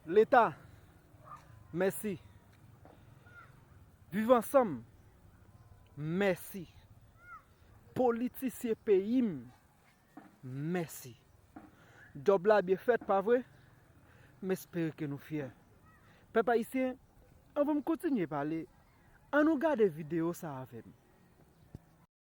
Leta mèsi. Viv ansanm mèsi. Politisye peyi m mèsi. Djòb la byen fèt pa vre? M espere ke nou fyè. Pèp ayisyen, anvan m kontinye pale, an nou gade videyo sa avè m.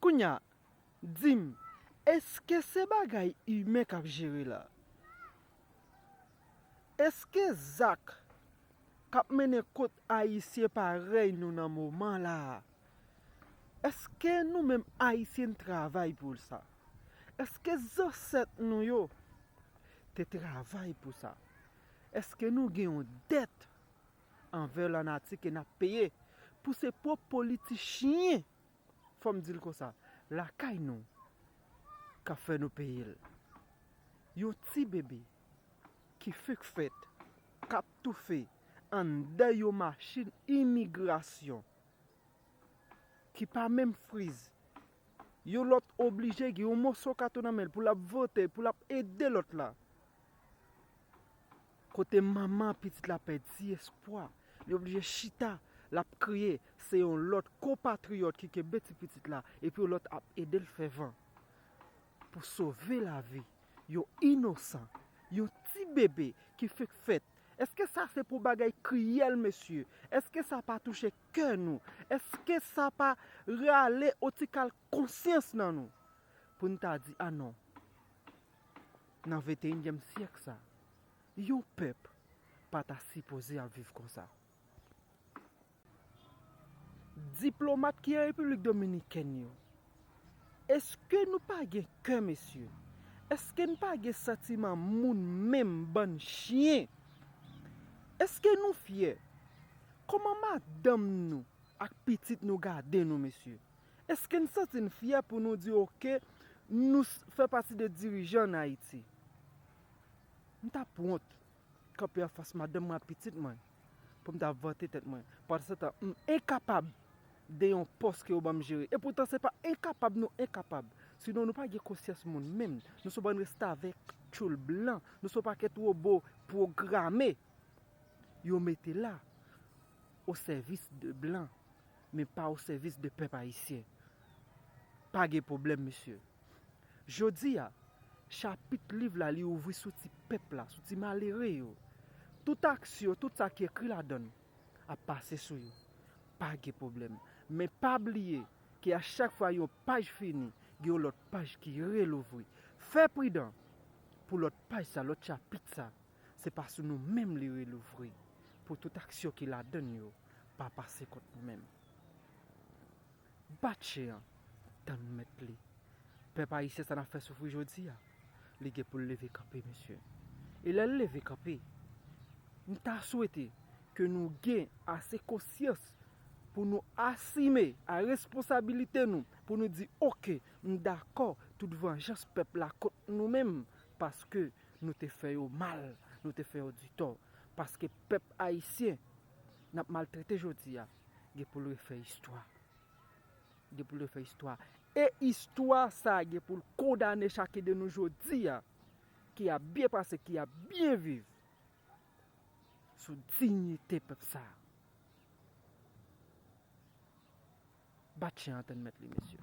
Kounya, di m, èske se bagay imen k ap jere la? Èske zak k ap mennen kot Ayisyen parèy nou nan moman la a? Èske nou menm Ayisyen n travay pou sa? Èske zansèt nou yo te travay pou sa? Èske nou gen yon dèt anvè lanati ke n ap peye pou se pwòp politichyen, fò m di l konsa, lakay nou k ap fè nou peye l? Yon ti bebe ki fenk fèt k ap toufe anndan yon machin imigrasyon ki pa menm friz, yon lòt oblije gen yon moso kato nan men l pou l ap vote, pou l ap ede lòt la Kote manman pitit la pèdi espwa, li oblije chita, l ap kriye, se yon lòt konpatriyòt ki kenbe ti pitit la epi yon lòt ap ede l fè van pou sove lavi yon inosan, yon ti bebe ki fenk fèt. Eske sa se pou bagay kriyèl mesye? Eske sa pa touche kè nou? Eske sa pa rale yon ti kal konsyans nan nou? Pou n ta di a non. Nan venteyinyèm syèk sa, yon pèp pa ta sipoze ap viv konsa. Diplomat ki Repiblik Dominikèn yo, eske nou pa gen kè mesye? Eske n pa gen santiman moun menm bann chyen? Eske nou fyè? Kòman madanm nou ak pitit nou gade nou mesye? Eske n santi n fyè pou nou di ok nou fè pati de dirijan an Ayiti? M ta p wont kanpe an fas madanm mwen ak pitit mwen pou m ta vante tèt mwen. Pandansetan, m enkapab de yon pòs ke yo ban m jere. Epoutan se pa enkapab nou enkapab. Sinon nou pa gen konsyans moun menm. Nou se yon bann restavèk, tchoul blan. Nou se yon pakèt wobo pwograme. Yo mete la o sèvis de blan. Men pa o sèvis de pèp ayisyen. Pa gen pwoblèm mesye. Jodi a, chapit liv la li ouvri sou ti pèp la, sou ti malere yo. Tout aksyon, tout sa ki ekri ladann ap pase sou yo. Pa gen pwoblèm. Men pa bliye ke a chak fwa yon paj fini, gen yon lòt paj ki relouvri. Fè pridan pou lòt paj sa, lòt chapit sa. Se pa sou nou menm li relouvri pou tout aksyon ki ladan l yo pa pase kont nou menm. Bat chen an tann mèt li. Pèp ayisyen sa n ap fè soufri jodi a, li gen pou l leve kanpe mesye. E lè l leve kanpe, m ta swete ke nou gen ase konsyans pou nou asime a responsabilite nou pou nou di ok m dakò tout vanjans pèp la kont nou menm paske Nou te fè yo mal, nou te fè yo ditò, paske pèp ayisyen n ap maltrete jodi a gen pou l refè istwa. Gen pou l refè istwa. E istwa sa a gen pou l kondane chak de nou jodi a ki ap byen pase, ki ap byen viv sou dinyite pèp sa a. Bat chen antenn mèt li mesye.